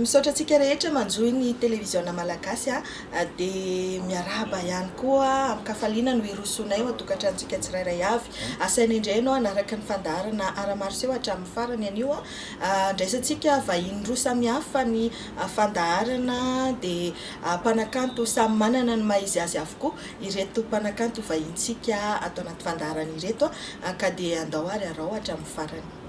Misaotra antsika rehetra manjohy ny televiziona malagasy dia miarahaba ihany koa amin-kafaliana no hirosoanay ao an-tokantranontsika tsirairay avy. Asaina indray ianao hanaraka ny fandaharana Ara-maroseho hatramin'ny farany anio. Andraisantsika vahiny roa samihafa ny fandaharana dia mpanakanto samy manana ny maha-izy azy avokoa ireto mpanakanto vahinintsika ato anaty fandaharana ireto ka dia andao ary arao hatramin'ny farany.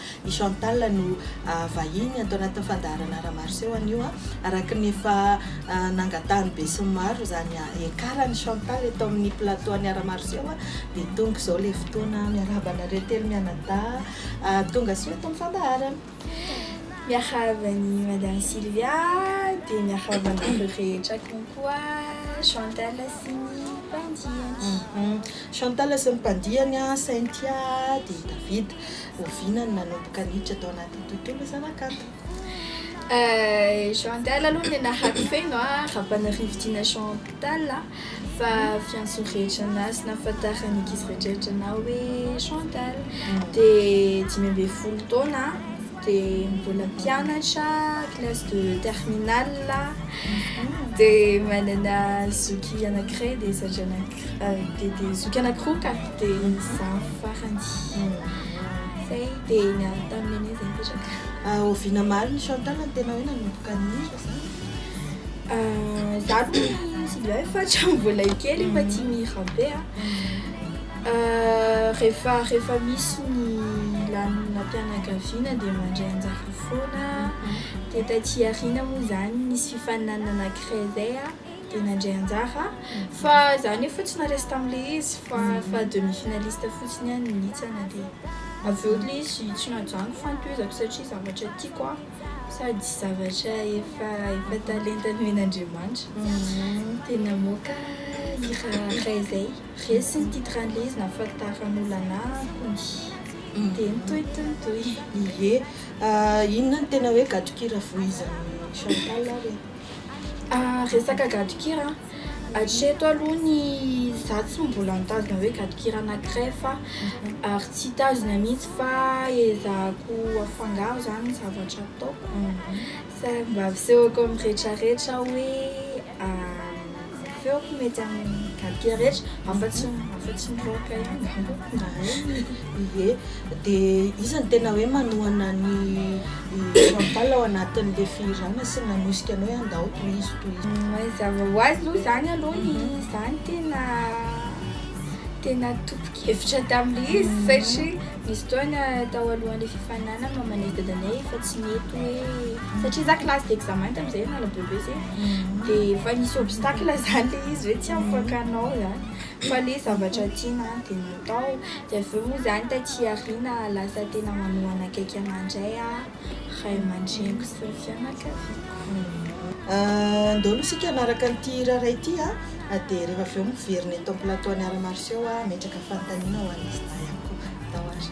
I Chantal no vahiny ato anatin'ny fandaharana Ara Maroseho anio a! Araka ny efa nangatahan'ny besinimaro izany hiakaran'i Chantal eto amin'ny plateau an'ny Ara Maroseho dia tonga izao ilay fotoana. Miarahaba anareo telo mianadahy tongasoa eto amin'ny fandaharana. Miarahaba an'i Madame Sylvia dia miarahaba anareo rehetra konkoa Chantal sy ny mpandiany. Chantal sy ny mpandiany, Cynthia dia David. Oviana no nanomboka niditra tao anatin'ny tontolo zanakanto? Jean-Tal aloha ny nahary feno a, Rapanirivitina Jean-Tal a, fa fiantso rehetra anahy sy nahafantaran'ny ankizy rehetrarehetra anahy hoe Jean-Tal. Dia dimy ambin'ny folo taona a, dia mbola mpianatra classe de terminale a, dia manana zoky anakiray dia zandrinay. dia dia zoky anankiroa ka dia izaho farany zay dia niaraka tamin'ny nenay zay nipetraka oviana maro ny chantal no tena hoe nanomboka nihira zany za aloha sy ilay fa hatramin'ny mbola kely efa tia mihira be a rehefa rehefa misy ny lanonam-pianakaviana dia mandray anjara foana dia taty aoriana moa zany nisy fifaninanana anankiray zay a dia nandray anjara fa za nefa fa tsy naresy tamle izy fa fa demi finaliste fotsiny ihany nihitsana dia avy eo le izy tsy nahajanoko fantohizako satria zavatra tiako an sady zavatra efa efa talenta nomen'Andriamanitra mhm. dia namoaka hira iray zay resy ny titre an'le izy nafalitaran'olana kony dia nitohy nitohy nitohy ie inona ny tena hoe gadon-kira vohizan'ny Chantal ary Ah resaka gadon-kira an, hatreto aloha ny za tsy mbola nitazona hoe gadon-kira anankiray fa ary tsy hitazona mihitsy fa ezahako afangaro zany ny zavatra ataoko, sady mba asehoko amin'ny retraretra hoe Feoko mety amin'ny gapier rehetra, afa-tsy afa-tsy ny rock ihany angamba raha ie. Dia iza no tena hoe manohana ny Chantal ao anatin'ilay fihirana sy nanosika anao hoe andao tohizo tohizo. Mazava ho azy aloha izany aloha ny izany tena tena tompon-kevitra tamin'ilay izy satria nisy fotoana tao alohan'ilay fifaninanana mamanay sy dadanay efa tsy nety hoe. satria za classe d'examen tamin'izay nanao brevet zay dia efa nisy obstacle izany ilay izy hoe tsy afaka hanao izany fa ilay zavatra tiana dia natao dia avy eo moa izany taty aoriana lasa tena manohana akaiky an'andray aho ray aman-dreniko sy ny fianakaviako ndao aloha isika hanaraka an'ity hira iray ity a dia rehefa avy eo miverina eto amin'ny plateau an'i Ara Marcio aho hametraka fanontaniana ho an'izy lahy ihany koa ndao ary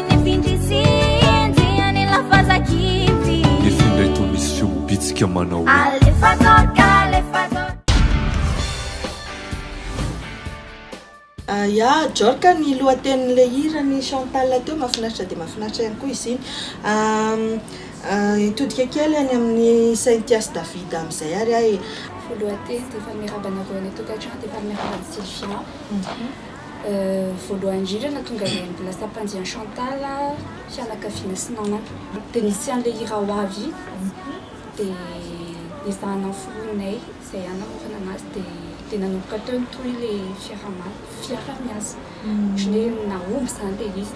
Ya Jorka ny lohatenin'ilay hiran'i Chantal teo mahafinaritra dia mahafinaritra ihany koa izy iny. Hitodika kely any amin'i Cynthia sy David amin'izay ary aho e. Ny lohateny dia fa miarahaba anareo any an-tokantrano dia fa miarahaba an'i Sylvia. Voalohany indrindra na tonga dia mbola sampandian'i Chantal fianakaviana sy namana. Dia nisy an'ilay hira ho avy dia ezahana noforoninay izay hanamorana anazy dia dia nanomboka teo ny tohin'ilay fiaraha-miasa. Ohatran'ny hoe nahomby izany ilay izy.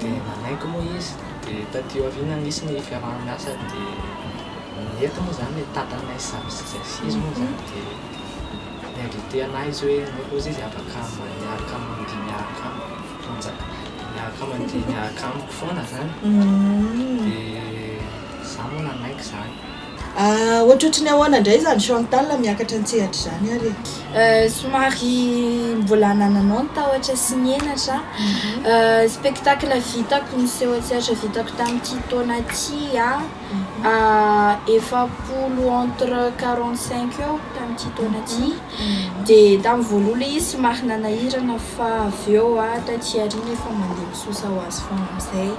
dia nanaiky moa izy dia taty aoriana nisy ny fiaraha-miasa dia nety moa izany hoe tatanay samy sisa sy izy moa izany dia ni-inviter anah izy hoe anao Rozy izy afaka miaraka mandihy miaraka amiko tanjaka miaraka mandihy miaraka amiko foana izany dia za moa nanaiky izany Ah, ohatrohatry ny ahoana indray izany Chantal miakatra an-tsehatra izany ary e? Euh, somary mbola nananao ny tahotra sy ny henatra an. Spectacle vitako, ny seho an-tsehatra vitako tamin'ity taona ity an, ah, efapolo, entre quarante cinq eo tamin'ity taona ity. Dia tamin'ny voaloha ilay izy somary nanahirana fa avy eo an, taty aoriana efa mandeha misosa ho azy foana amin'izay.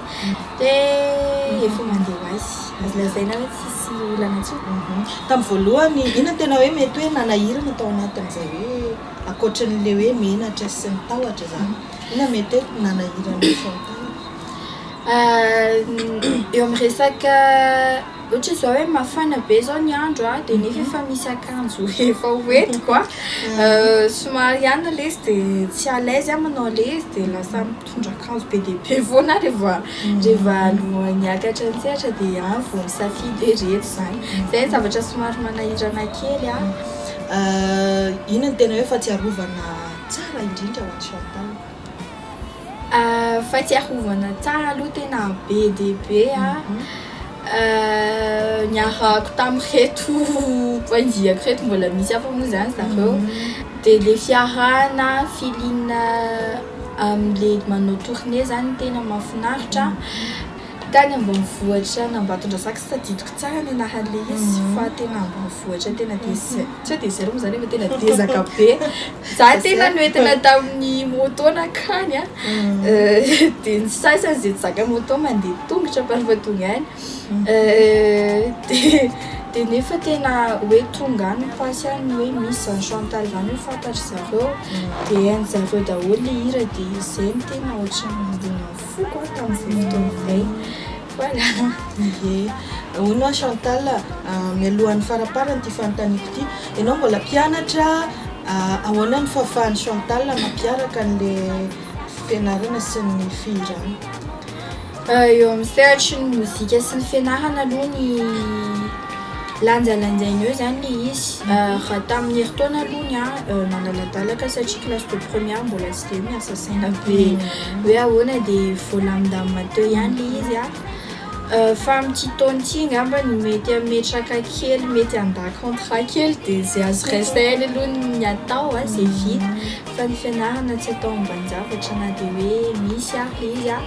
Dia efa mandeha ho azy. Azo lazaina hoe tsisy olana intsony. Tamin'ny voalohany, inona no tena hoe mety hoe nanahirana tao anatin'izay hoe ankoatran'ilay hoe menatra sy ny tahotra izany, inona no mety hoe nanahirana an'i Chantal? Eo amin'ny resaka ohatra izao hoe mafana be izao ny andro an, dia nefa efa misy akanjo efa ho entiko an, somary ihany ilay izy dia tsy à l'aise aho manao ilay izy dia lasa m-. mitondra akanjo be dia be foana rehefa rehefa niakatra an-tsehatra dia any vao misafidy hoe ireto izany. Izay ny zavatra somary manahirana kely an. Inona no tena hoe fahatsiarovana tsara indrindra ho an'i Chantal? Fahatsiarovana tsara aloha tena be dia be an, niarahako tamin'ireto mpanjihako ireto mbola misy hafa moa izany zareo, dia ilay fiarahana, feeling. Amin'ilay manao tournée zany tena mahafinaritra tany ambanivohitra any Ambatondrazaka tsy tadidiko tsara ny anaran'ilay izy fa tena ambanivohitra tena désert tsy hoe désert loatra zany fa tena dezaka be za tena noentina tamin'ny moto nankany a dia ny sasany izay tsy zaka moto mandeha tongotra fa rehefa tonga any dia dia nefa tena hoe tonga any pasy any hoe misy zany chantal zany hoe fantatry zareo dia hainy zareo daholo le hira dia izay ny tena ohatran'ny nandona foko a tamin'izay fotoana izay voilà ye ahoana chantal mialohan'ny faraparany ity fanontaniako ity ianao mbola mpianatra ahoana ny fahafahan'i chantal mampiaraka an'le fianarana sy ny fihirana Eo amin'ny sehatry ny mozika sy ny fianarana aloha ny lanjalanjaina eo zany le izy raha tamin'ny herintaona aloha ny ahy nadaladalaka satria classe de première mbola tsy de hoe miasa saina be hoe ahoana de voalamindamina teo ihany le izy a fa amin'ity taona ity angamba ny mety hametraka kely mety handà contrat kely de zay azo resahina aloha ny atao a zay vita fa ny fianarana tsy atao ambanin-javatra na de hoe misy ary le izy a.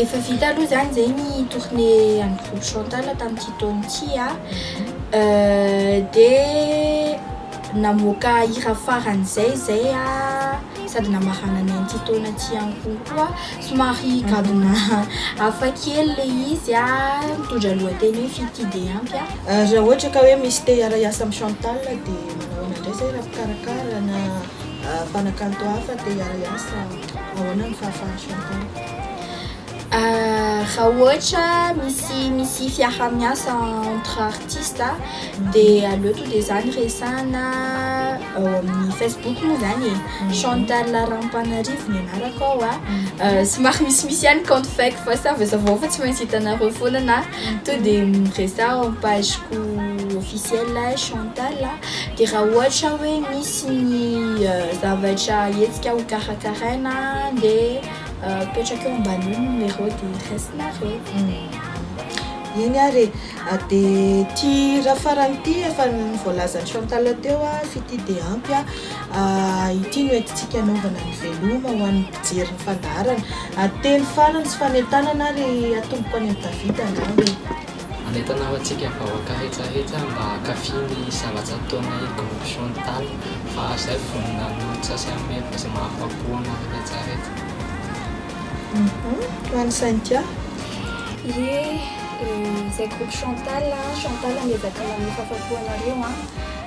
Efa vita aloha zany zay ny tournée an'ny groupe Chantal tamin'ity taona ity a, dia namoaka hira faran'izay zay a, sady namarana ny an'ity taona ity ihany koa koa somary gadona hafa kely le izy a, mitondra lohateny hoe fy tia dia ampy a. Raha ohatra ka hoe misy te hiara-hiasa amin'i Chantal dia manao ahoana indray zay raha mpikarakara na. Mpanakanto hafa te hiara-hiasa, ahoana ny fahafahan'i Chantal? Raha ohatra misy misy fiaraha-miasa entre artistes dia aleo tonga dia zany resahana ao amin'ny Facebook moa zany e. Mhm. Chantal Rampanarivo ny anarako ao a. Mhm. Somary misimisy ihany compte fake fa savazavanao fa tsy maintsy hitanareo foana na mhm. tonga dia miresaha ao amin'ny pageko officielle Chantal a. Dia raha ohatra hoe misy ny zavatra hetsika ho karakaraina dia apetraka eo ambanin'io numéro dia raisinareo. Eny ary e! Dia ity iray farany ity efa voalazan'i Chantal teo f'ity dia ampy an! Ity no entintsika hanaovana ny veloma ho an'ny mpijery ny fandaharana. Teny farany sy fanentanana ary atomboko any amin'i David angamba e! Manentana ho antsika vahoaka retraretra mba hankafy ny zavatra ataonay groupe Chantal fa zay vonona hanolotra sy hanome vazo mahafapo anareo retraretra. Hum tany Saintia. Ye eh, zay groupe Chantal a, Chantal miezaka maneho fahafapo anareo an,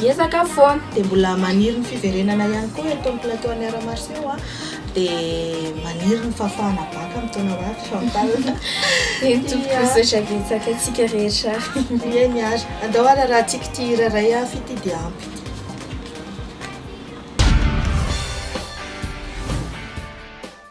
Hiezaka foana, dia mbola maniry ny fiverenana ihany koa eto amin'ny plateau an'i Art Martiaux an, dia maniry ny fahafahana bac amin'ny taona ho avy fa mitazona eny tompoko misaotra betsaka antsika rehetra ary eny ary andao ary raha tsika ity hira iray avy ity dia ampy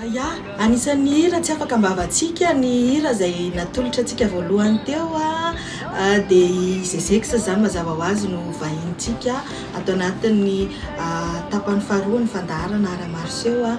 Aya, anisan'ny hira tsy afaka am-bavantsika ny hira izay natolotra antsika voalohany teo dia i Zezex izany mazava ho azy no vahinintsika ato anatin'ny tapany faharoa ny fandaharana Art Martiaux.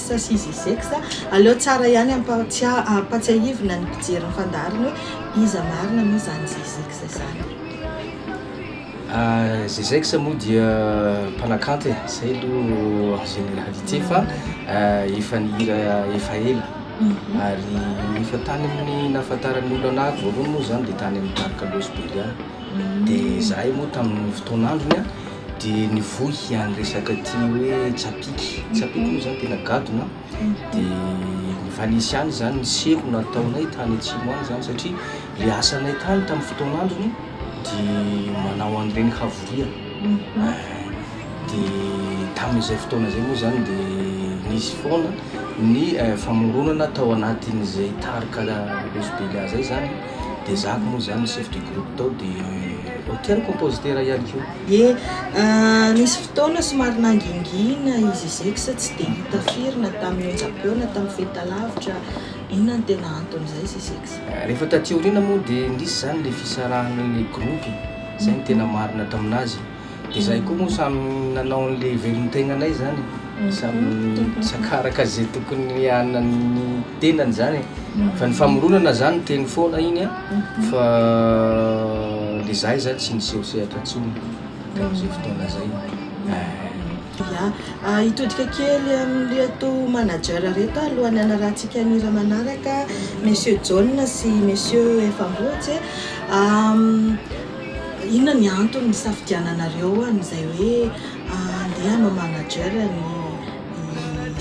Sasizizex, aleo tsara ihany ampatsiahivina ny mpijery ny fandaharana hoe iza marina moa izany Zizex izany e? Zizex moa dia mpanakanto e, izay aloha en généralité fa efa nihira efa ela ary efa tany amin'ny nahafantaran'ny olona anahy voalohany moa izany dia tany amin'ny Parc Los Belian dia izahay moa tamin'ny fotoan'androny Dia nivohy any resaka aty hoe tsapiky, tsapiky moa zany tena gadona, dia nivalise any zany ny seho nataonay tany atsimo any zany satria le asanay tany tamin'ny fotoan'androny dia manao an'ireny havoria, dia tamin'izay fotoana zay moa zany dia nisy foana ny famoronana tao anatin'izay tarika Los Bella zay zany, Dia zah ko moa zany ny chef de groupe tao dia hotel compositeur ihany koa. Ye, nisy fotoana somary nangingina i Zizix tsy dia hita firy na tamin'ny onjam-peo na tamin'ny fahitalavitra, inona no tena anton'izay Zizix? Rehefa taty aoriana moa dia nisy izany ilay fisarahana ilay groupe, izay no tena marina tamin'azy. Dia izahay koa moa samy nanao ny lehivelin'ny tegnanay izany e. Samy nisakà araka izay tokony hanan'ny tenany izany e. Fa ny famoronana izany teny foana iny a, fa dia izahay izany tsy niseho sehatra intsony tamin'izay fotoana izay e. Ya, hitodika kely amin'ireto manager ireto aho alohan'ny hanarahantsika ny hira manaraka, Monsieur Jaona sy Monsieur Efa Ambohitse. Inona ny antony nisafidiananareo an'izay hoe andeha hanao manager ny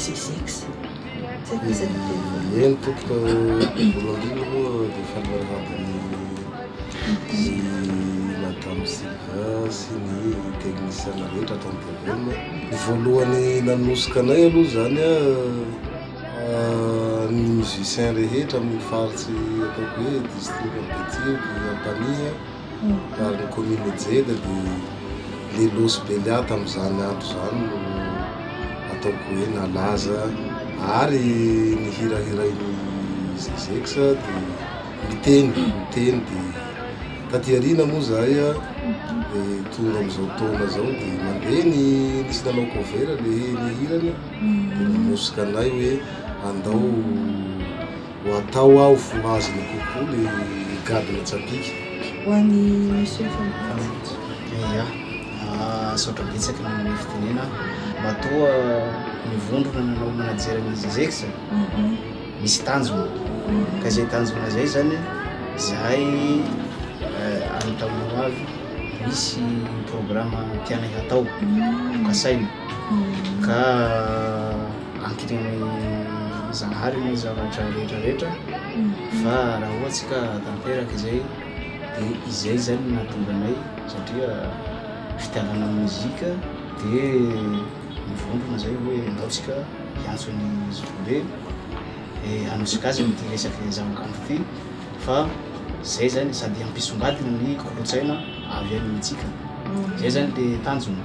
Zezex? Eny tompoko, voalohany indrindra moa dia fanarahaba ny Madame Sylvain sy ny techniciens rehetra ato amin'ny tvm. Ny voalohany nanosika anay aloha izany an. Ny musiciens rehetra amin'ny faritsy ataoko hoe district an'i Betio dia Ampanihy ary ny commune Ijeda dia le losy Belia tamin'izany andro izany no ataoko hoe nalaza ary ny hira hirain'i Zezex dia miteny miteny dia taty aoriana moa izahay dia tonga amin'izao taona izao dia mandeha ny nisy nanao cover le ny hirany Dia nanosika anay hoe andao ho atao aho fo hazina kokoa le gadona tsapìka. Ho an'i Monsieur Fantatsy. Yah, misaotra betsaka nanome fitenena aho. Matoa ny vondrona nanao manager an'izy Azex misy tanjona, ka izay tanjona izay izany izahay any tamin'ny hoavy misy programme tianay hatao, kasaina. ka akitrin'ny Zanahary ny zavatra rehetra rehetra fa raha ohatsy ka tanteraka izay de izay zany no mahatonga anay satria fitiavana ny mozika de mivondrona zay hoe anaotsika hiantso ny zokibe de anosika azy amin'ity resaka zavakanto ity fa zay zany sady hampisongadina ny kolontsaina avy any amintsika zay zany le tanjona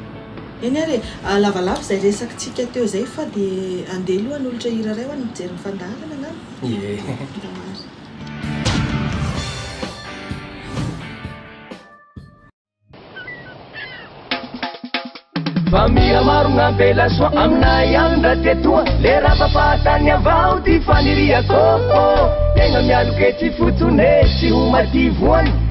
Eny ary e! Lavalava izay resakitsika teo izay fa dia andeha aloha hanolotra hira iray ho an'ny mpijery ny fandaharana angamba? Ie! Ndao ary. Fa mihamaro gn'ampela soa aminay agny ndra ty etoa Le rava fahatany avao ty faniriako oh! Tegna mialoke tsy fotsone tsy ho mativoany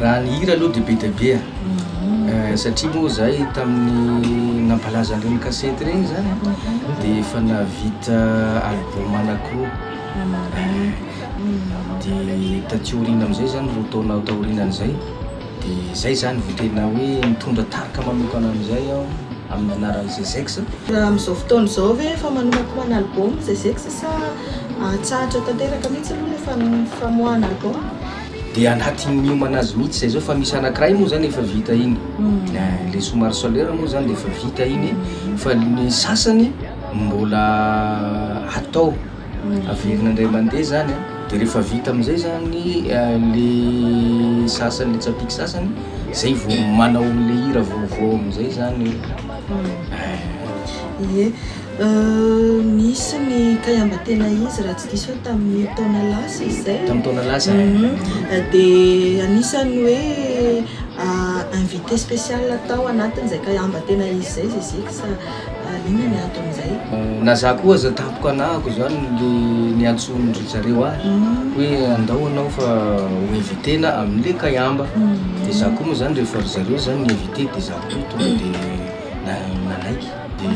Raha ny hira aloha dia be dia be ah, satria moa zahay tamin'ny nampalaza an'ireny kasety ireny zany dia efa nahavita album anankiroa, dia taty aoriana amin'izay zany roa taona taorianan'izay dia zay zany vao tena hoe nitondra tarika manokana amin'izay aho amin'ny anaran'i Zezex. Raha amin'izao fotoana izao ve efa manomana koa manao album Zezex sa atsahatra tanteraka mihitsy aloha ilay famoahana album? de anatin'ny miomana azy mihitsy zay zao fa misy anakiray moa zany efa vita iny mm. eh, le somary solaire moa zany de efa vita iny mm. fa ny sasany mbola atao mm. averina indray mandeha zany de rehefa vita amizay zany eh, le sasany le tsapiky sasany zay vo manao le hira vaovao amizay zany eh. Nisy ny kaiamba tena izy raha tsy diso aho tamin'ny taona lasa izay. Tamin'ny taona lasa. Dia anisan'ny hoe invité spécial tao anatin'izay kaiamba tena izy izay Zezika sa inona ny anton'izay? Na za koa aza tampoka anahako izany le niantsoan-dry zareo ahy hoe andao anao fa ho invité-na amin'le kaiamba. Dia za koa moa izany rehefa ry zareo izany ni-invité dia za koa tonga dia nanaiky. Dia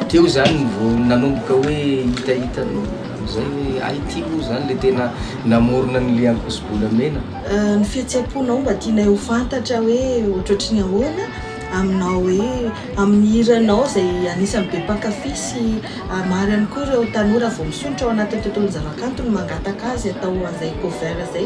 teo izany no vao nanomboka hoe hitahita an'io, amin'izay hoe hay ity moa izany ilay tena namorona an'ilay ankoso-bolamena? Ny fihetseham-ponao mba tianay ho fantatra hoe ohatrohatry ny ahoana aminao hoe amin'ny hiranao izay anisan'ny be mpankafy sy maro ihany koa ireo tanora vao misondrotra ao anatin'ny tontolon'ny zavakanto no mangataka azy atao an'izay cover izay.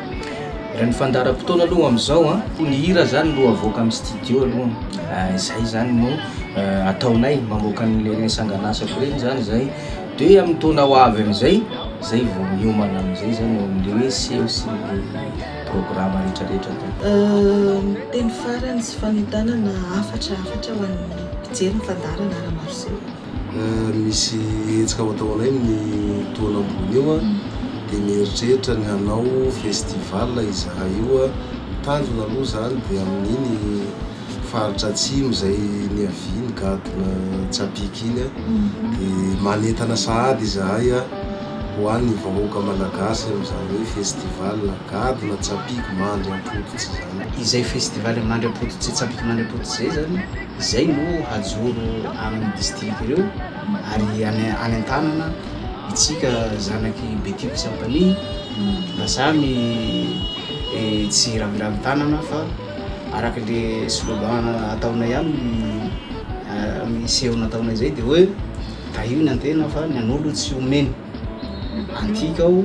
Raha ny fandaharam-potoana aloha amin'izao an, koa ny hira zany no avoaka amin'ny studio aloha, izay zany no ataonay, mamoaka an'ireny sangan'asako ireny zany izay, dia amin'ny taona ho avy amin'izay, izay vao miomana amin'izay zany eo amin'ny hoe seho sy ny programa rehetrarehetra atao. Ny teny farany sy fanentanana hafatra hafatra ho an'ny mpijery ny fandaharana Art Martiaux. Misy hetsika ao an-taonay ny taona ambony io dia mieritreritra ny hanao festival izahay io. Tanjona aloha izany dia amin'iny faritra atsimo izay niaviany gadona Tsapiky iny dia manentana sahady izahay ho an'ny vahoaka malagasy amin'izany hoe festival gadona Tsapiky mandry am-pototra izany. Izay festival mandry am-pototra sy Tsapiky mandry am-pototra izay izany Izay no hajoro amin'ny distrika ireo ary any an-tanana itsika zanak'i Betiko Tsapaniny mba samy tsy raviravy tanana fa araka le slogan ataonay amin'ny seho nataonay izay dia hoe tahio ny antena fa ny an'olo tsy omeny. Antika ao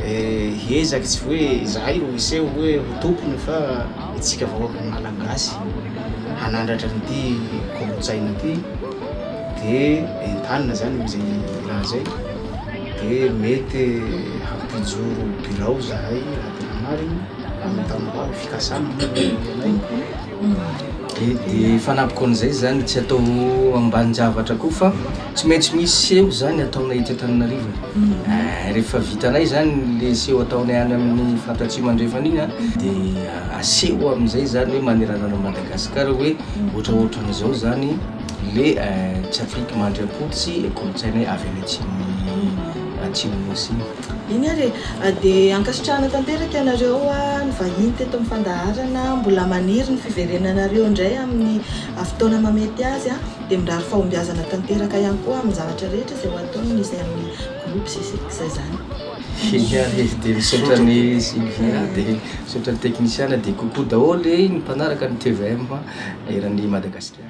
eh, ezaky tsy hoe izahay no hiseho hoe ho tompony fa itsika vahoaka Malagasy hanandratra an'ity kolontsaina ity de entanina zany amin'izay raha zay de mety hampijoro birao izahay raha tena marina amin'ny tantara ny fikasana moa ny anay de fanapoko an'izay zany tsy atao ambanin-javatra koa fa Tsy maintsy misy seho izany ataonay ety Antananarivo e. Eh, rehefa vitanay zany le seho ataonay any amin'ny Fat Atsimo Andrefana iny an, dia aseho amin'izay zany hoe manerana an'i Madagasikara hoe ohatraohatran'izao zany le eh, tsy Afrique mandriampototry kolontsainay avy any atsimon'i, Atsimo Nosy iny. Iny ary e. Dia ankasitrahana tanteraka ianareo nivahiny teto amin'ny fandaharana. Mbola maniry ny fiverenanareo indray amin'ny fotoana mahamety azy an. dia mirary fahombiazana tanteraka ihany koa amin'ny zavatra rehetra izay ho ataony ny izay amin'ny groupe sy izay izay izany. Sylvia Hery dia misaotra an'i Sylvia dia misaotra ny teknisiana dia coucou daholo ny mpanaraka ny tvm eran'ny Madagasikara.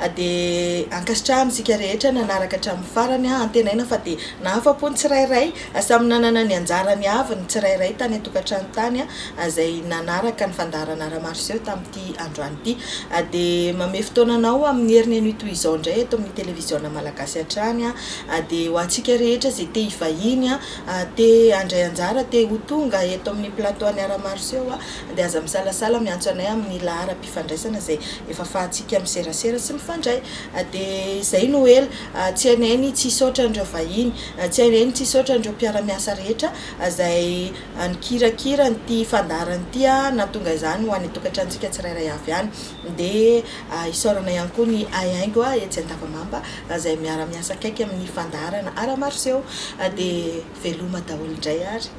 a dia ankasitrahana isika rehetra nanaraka hatramin'ny farany a Antenaina fa dia nahafa-po ny tsirairay a Samy nanana ny anjarany avy ny tsirairay tany an-tokantrano tany a izay nanaraka ny fandaharana Ramaroseho tamin'ity androany ity a Dia manome fotoana anao amin'ny heriny anio toy izao indray eto amin'ny Televiziona Malagasy hatrany a a Dia ho antsika rehetra izay te hivahiny a a Te handray anjara, te ho tonga eto amin'ny plateau an'i Ramaroseho a Dia aza misalasala miantso anay amin'ny laharam fifandraisana izay efa fahantsika miserasera sy mifandray dia izay no ela tsy hainay ny tsy hisaotra an'ireo vahiny tsy hainay ny tsy hisaotra an'ireo mpiara-miasa rehetra izay nikirakira an'ity fandaharana ity nahatonga izany ho any an-tokantranontsika tsirairay avy any dia isaorana ihany koa ny haihaingo etsy Andavamamba izay miara-miasa akaiky amin'ny fandaharana Ara-maroseho dia veloma daholo indray ary.